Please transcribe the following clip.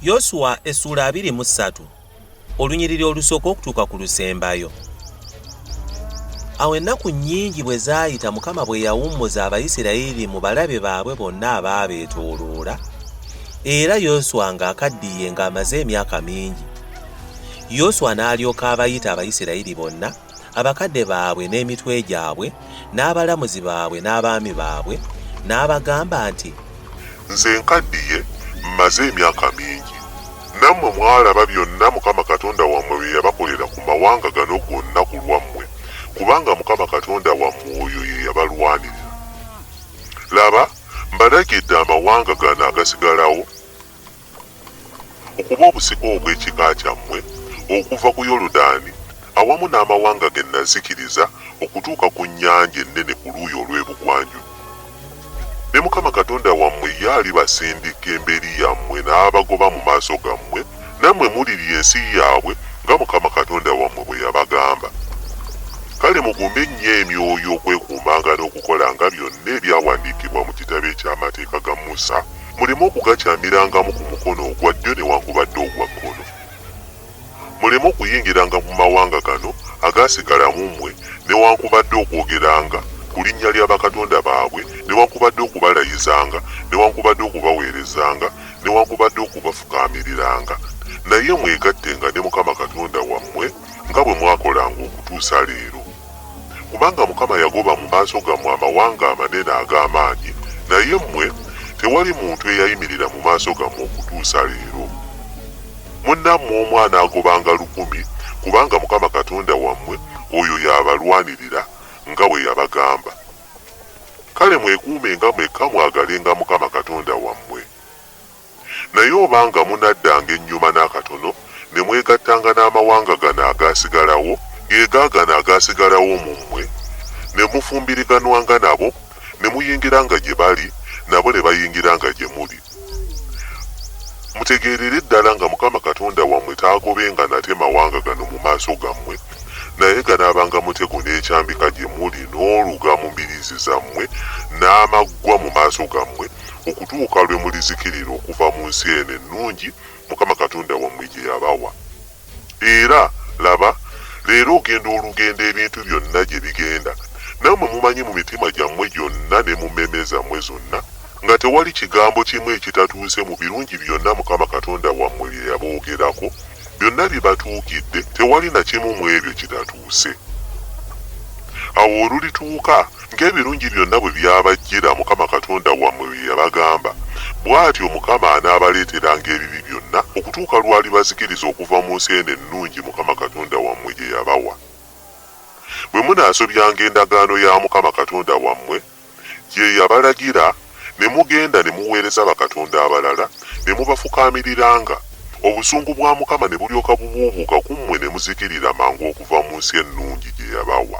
yosuwa essuula abiri mu ssatu olunyiriri olusooka okutuuka ku lusembayo awo ennaku nnyingi bwe zaayita mukama bwe yawummuza abayisirayiri mu balabe baabwe bonna abaabeetooloola era yoswa ng'akaddiye ng'amaze emyaka mingi yoswa n'alyoka abayita abayisirayiri bonna abakadde baabwe n'emitwe gyabwe, n'abalamuzi baabwe n'abaami baabwe, n'abagamba nti. Nze nkaddiye, mmaze emyaka mingi. Nammwe mwalaba byonna Mukama Katonda wammwe bye yabakolera ku mawanga gano gonna ku lwammwe, kubanga Mukama Katonda wammwe oyo ye yabalwanirira. Laba, mbalagidde amawanga gano agasigalawo. okuba obusika obw'ekika kyammwe okuva ku Yoludaani, awamu n'amawanga ge nazikiriza okutuuka ku Nnyanja Ennene ku luuyi olw'ebugwanjuba. Ne Mukama Katonda wammwe ye alibasindika emberi yammwe n'abagoba mu maaso gammwe, nammwe mulirya ensi yaabwe nga Mukama Katonda wammwe bwe yabagamba. Kale mugumbe nnyo emyoyo okwekuumanga n'okukolanga byonna ebyawandiikibwa mu kitabo eky'Amateeka ga Musa. muleme okugakyamirangamu ku mukono ogwa ddyo newankubadde ogwa kkono, muleme okuyingiranga mu mawanga gano agaasigala mu mmwe, newankubadde okwogeranga ku linnya lya bakatonda baabwe, newankubadde okubalayizanga, newankubadde okubaweerezanga, newankubadde okubafukaamiriranga, naye mwegattenga ne Mukama Katonda wammwe nga bwe mwakolanga okutuusa leero. Kubanga Mukama yagoba mu maaso gammwe amawanga amanene ag'amaanyi, naye mmwe tewali muntu eyayimirira mu maaso gammwe okutuusa leero. Munnammwe omu anaagobanga lukumi, kubanga Mukama Katonda wammwe oyo y'abalwanirira, nga bwe yabagamba. Kale mwekuumenga mwekka mwagalenga Mukama Katonda wammwe. Naye obanga munaddanga ennyuma n'akatono, ne mwegattanga n'amawanga gano agaasigalawo, ge gaagano agaasigalawo mu mmwe, ne mufumbiriganwanga nabo, ne muyingiranga gye bali, nabo ne bayingiranga gye muli, mutegeerere ddala nga Mukama Katonda wammwe taagobenga nate mawanga gano mu maaso gammwe, naye ganaabanga mutego n'ekyambika gye muli, n'oluga mu mbiriizi zammwe, n'amaggwa mu maaso gammwe, okutuuka lwe mulizikirira okuva mu nsi eno ennungi Mukama Katonda wammwe gye yabawa. Era, laba, leero ogenda olugendo ebintu byonna gye bigenda, nammwe mumanyi mu mitima gyammwe gyonna ne mu mmeeme zammwe zonna, nga tewali kigambo kimu ekitatuuse mu birungi byonna Mukama Katonda wammwe bye yaboogerako, byonna bibatuukidde, tewali na kimu mw'ebyo kitatuuse. Awo olulituuka Ng'ebirungi byonna bwe byabajjira Mukama Katonda wammwe bye yabagamba, bw'atyo Mukama anaabaleeteranga ebibi byonna okutuuka lw'alibazikiriza okuva mu nsi eno ennungi Mukama Katonda wammwe gye yabawa. Bwe munaasobyanga endagaano ya Mukama Katonda wammwe gye yabalagira, ne mugenda ne muweereza bakatonda abalala, ne mubafukaamiriranga, obusungu bwa Mukama ne bulyoka bubuubuuka ku mmwe ne muzikirira mangu okuva mu nsi ennungi gye yabawa.